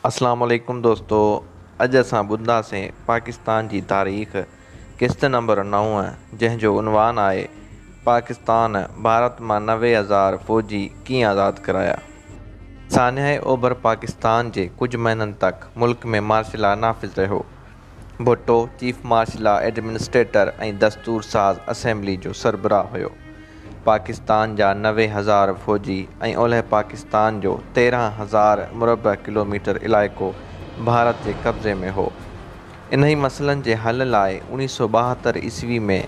اسلام عليڪم دوستو اڄ اسان ٻڌنداسين پاڪستان جي تاريخ قسط نمبر نو جنهن جو عنوان آهي پاڪستان ڀارت مان نوي هزار فوجي ڪيئن آزاد ڪرايا. ساڃاهه اوڀر پاڪستان جي ڪجهه مهينن تڪ ملڪ ۾ مارشل لا نافذ رهيو Bhutto chief martial law, administrator ۽ دستور ساز اسيمبلي جو سربراهه هيو. پاڪستان جا نوي هزار فوجي ۽ اولهه پاڪستان جو تيرهن هزار مربع ڪلوميٽر علائقو ڀارت جي قبضي ۾ هو. انهي مسئلن جي حل لاء اوڻيهه سؤ ٻاهتر عيسوي ۾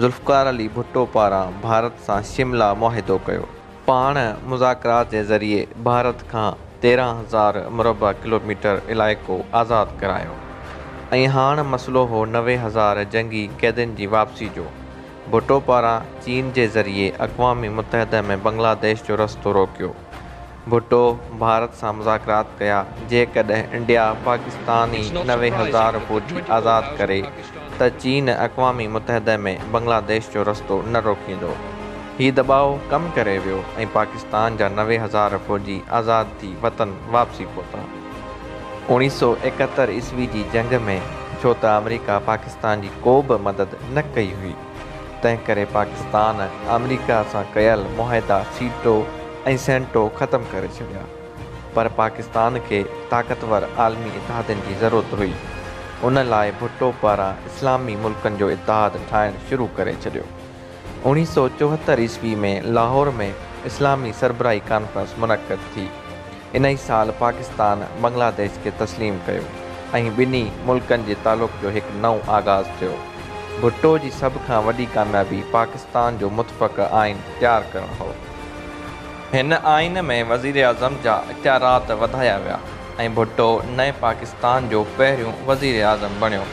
ذوالفقار علي ڀٽو پاران ڀارت سان شملا معاهدو ڪيو. پاڻ مذاڪرات جي ذريعي ڀارت کان تيرهن هزار مربع ڪلوميٽر علائقو آزاد ڪرايو ۽ هاڻ مسئلو هو نوي هزار جنگي قيدين جي واپسي جو. ڀٽو پاران چين جي ذريعي اقوام متحده ۾ بنگلاديش جو رستو روڪيو. ڀٽو ڀارت سان مذاڪرات ڪيا جيڪڏهن انڊيا پاڪستاني نوي هزار فوجي آزاد ڪري ته چين اقوام متحده ۾ بنگلاديش جو رستو نه روڪيندو. هي دٻاء ڪم ڪري ويو ۽ پاڪستان جا نوي هزار فوجي آزاد ٿي وطن واپسي پهتا. اوڻيهه سؤ ايڪهتر عيسوي جي جنگ ۾ ڇو ته آمريڪا پاڪستان جي ڪو به مدد نه ڪئي هئي، تنهن ڪري پاڪستان آمريڪا سان ڪيل معاهدا سيٽو ۽ سينٽو ختم ڪري ڇڏيا. پر پاڪستان کي طاقتور عالمي اتحادين جي ضرورت هئي. ان لاء ڀٽو پاران اسلامي ملڪن جو اتحاد ٺاهڻ شروع ڪري ڇڏيو. اوڻيهه سؤ چوهتر عيسوي ۾ لاهور ۾ اسلامي سربراهي ڪانفرنس منعقد ٿي. انهي سال پاڪستان بنگلاديش کي تسليم ڪيو ۽ ٻنهي ملڪن جي تعلق جو هڪ نئون آغاز ٿيو. ڀٽو جي سڀ کان وڏي ڪاميابي پاڪستان جو متفقه آئين تيار ڪرڻ هو. هن آئين ۾ وزيراعظم جا اختيارات وڌايا ويا ۽ ڀٽو نئين پاڪستان جو پهريون وزيراعظم بڻيو.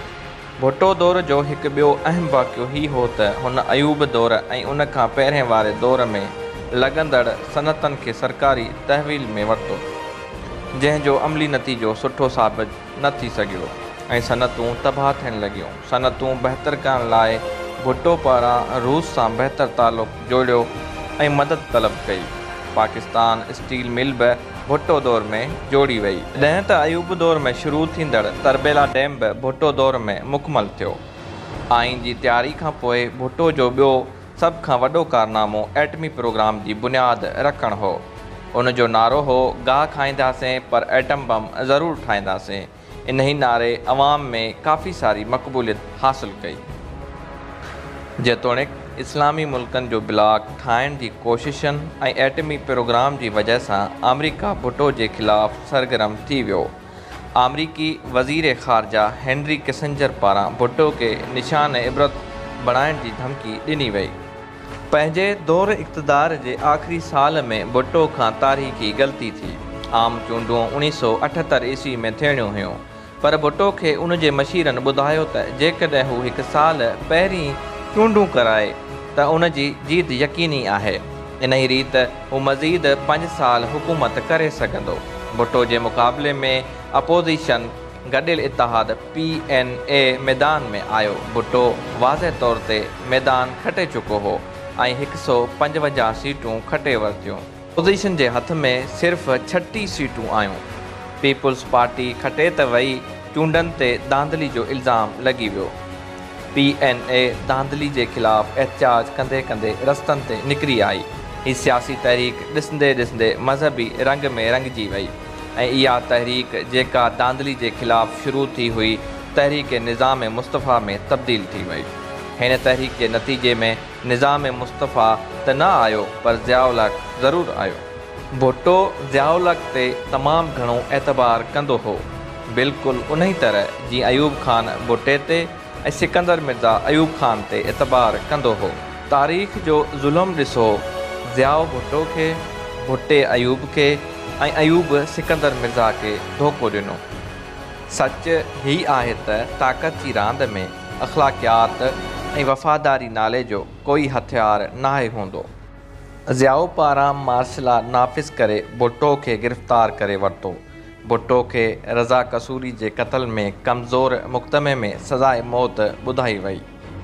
ڀٽو دور جو هڪ ٻيو اهم واقعو هي هو ته هن ايوب دور ۽ ان کان پهرين واري دور ۾ لڳندڙ صنعتن کي سرڪاري تحويل ۾ ورتو، جنهن جو عملي نتيجو سٺو ثابت نه ٿي سگهيو ۽ صنعتون تباهه ٿيڻ لڳيون. صنعتون بهتر ڪرڻ لاء ڀٽو پاران روس سان بهتر تعلق جوڙيو ۽ مدد طلب ڪئي. پاڪستان اسٽيل مل به ڀٽو دور ۾ جوڙي وئي. جڏهن ته ايوب دور ۾ شروع ٿيندڙ تربيلا ڊيم به ڀٽو دور ۾ مڪمل ٿيو. آئين جي تياري کان پوء ڀٽو جو ٻيو سڀ کان وڏو ڪارنامو ايٽمي پروگرام جي بنياد رکڻ هو. ان جو نعرو هو گاهه کائينداسين پر ايٽم بم ضرور ٺاهينداسين. انهي نعري عوام ۾ ڪافي ساري مقبوليت حاصل ڪئي. جيتوڻيڪ اسلامي ملڪن جو بلاڪ ٺاهڻ جي ڪوششن ۽ ايٽمي پروگرام جي وجهه سان آمريڪا ڀٽو جي خلاف سرگرم ٿي ويو. آمريڪي وزير خارجه هينري ڪسنجر پاران ڀٽو کي نشان عبرت بڻائڻ جي ڌمڪي ڏني وئي. پنهنجي دور اقتدار جي آخري سال ۾ ڀٽو کان تاريخي غلطي ٿي. عام چونڊون اوڻيهه سؤ اٺهتر عيسوي ۾ ٿيڻيون هيون پر ڀٽو کي ان جي مشيرن ٻڌايو ته جيڪڏهن هو هڪ سال پهرين چونڊون ڪرائي ته ان جي جيت يقيني آهي. انهي ريت هو مزيد پنج سال حڪومت ڪري سگهندو. ڀٽو جي مقابلي ۾ اپوزيشن، گڏيل اتحاد، پي اين اي ميدان ۾ آيو، ڀٽو واضح طور تي ميدان کٽي چڪو هو ۽ هڪ سؤ پنجونجاهه سيٽون کٽي ورتيون، اپوزيشن جي هٿ ۾ صرف ڇٽيهه سيٽون آيون، پيپلز پارٽي کٽي ته وئي، چونڊن تي ڌانڌلي جو الزام لڳي ويو، پي اين اي ڌانڌلي جي خلاف احتجاج ڪندي ڪندي رستن تي نڪري آئي، هي سياسي تحريڪ ڏسندي ڏسندي مذهبي رنگ ۾ رنگجي وئي. ۽ اها تحريڪ جيڪا دانڌلي جي خلاف شروع ٿي هئي تحريڪ نظام مصطفيٰ ۾ تبديل ٿي وئي. هن تحريڪ جي نتيجي ۾ نظام مصطفيٰ ته نه آيو پر ضياء الحق ضرور آيو. ڀٽو ضياء الحق تي تمام گهڻو اعتبار ڪندو هو بلڪل انهي طرح جيئن ايوب خان ڀٽي تي ۽ سڪندر مرزا ايوب خان تي اعتبار ڪندو هو. تاريخ جو ظلم ڏسو، ضياء ڀٽو کي، ڀٽي ايوب کي ۽ ايوب سڪندر مرزا کي ڌوڪو ڏنو. سچ هي آهي ته طاقت جي راند ۾ اخلاقيات ۽ وفاداري نالي جو ڪوئي هٿيار ناهي هوندو. ضياء پاران مارشلا نافذ ڪري ڀٽو کي گرفتار ڪري ورتو ڀٽو کي رضا قصوري جي قتل ۾ ڪمزور مقدمي ۾ سزاء موت ٻڌائي وئي.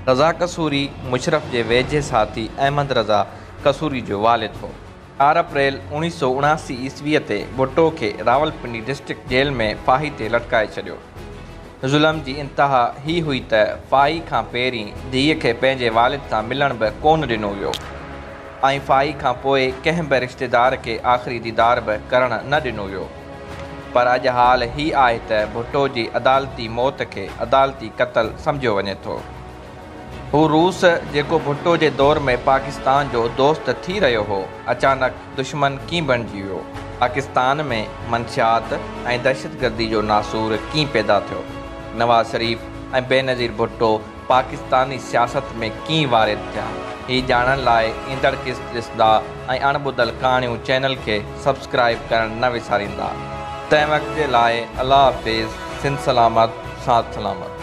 رضا قصوري مشرف جي ويجهي ساٿي احمد رضا قصوري جو والد هو. چار اپريل اوڻيهه سؤ اڻاسي عيسويء تي ڀٽو کي راولپنڊي ڊسٽرڪٽ جيل ۾ ڦاهي تي لٽڪائي ڇڏيو. ظلم جي انتها هي هئي ته ڦاهي کان پهرين ڌيء کي پنهنجي والد سان ملڻ به ڪونه ڏنو ويو ۽ ڦاهي کان پوء ڪنهن به رشتيدار کي آخري ديدار به ڪرڻ نه ڏنو ويو پر اڄ حال هي آهي ته ڀٽو جي عدالتي موت کي عدالتي قتل سمجهيو وڃي ٿو. هو روس جيڪو ڀٽو جي دور ۾ پاڪستان جو دوست ٿي رهيو هو اچانڪ دشمن ڪين بڻجي ويو؟ پاڪستان ۾ منشيات ۽ دهشتگردي جو ناسور ڪين پيدا ٿيو؟ نواز شريف ۽ بينظير ڀٽو پاڪستاني سياست ۾ ڪين وارد ٿيا؟ هي ڄاڻڻ لاء ايندڙ قسط ڏسندا ۽ اڻ ٻڌل ڪهاڻيون چينل کي سبسڪرائيب ڪرڻ نه وساريندا. تنهن وقت جي لاء الله حافظ سنڌ سلامت ساٿ سلامت.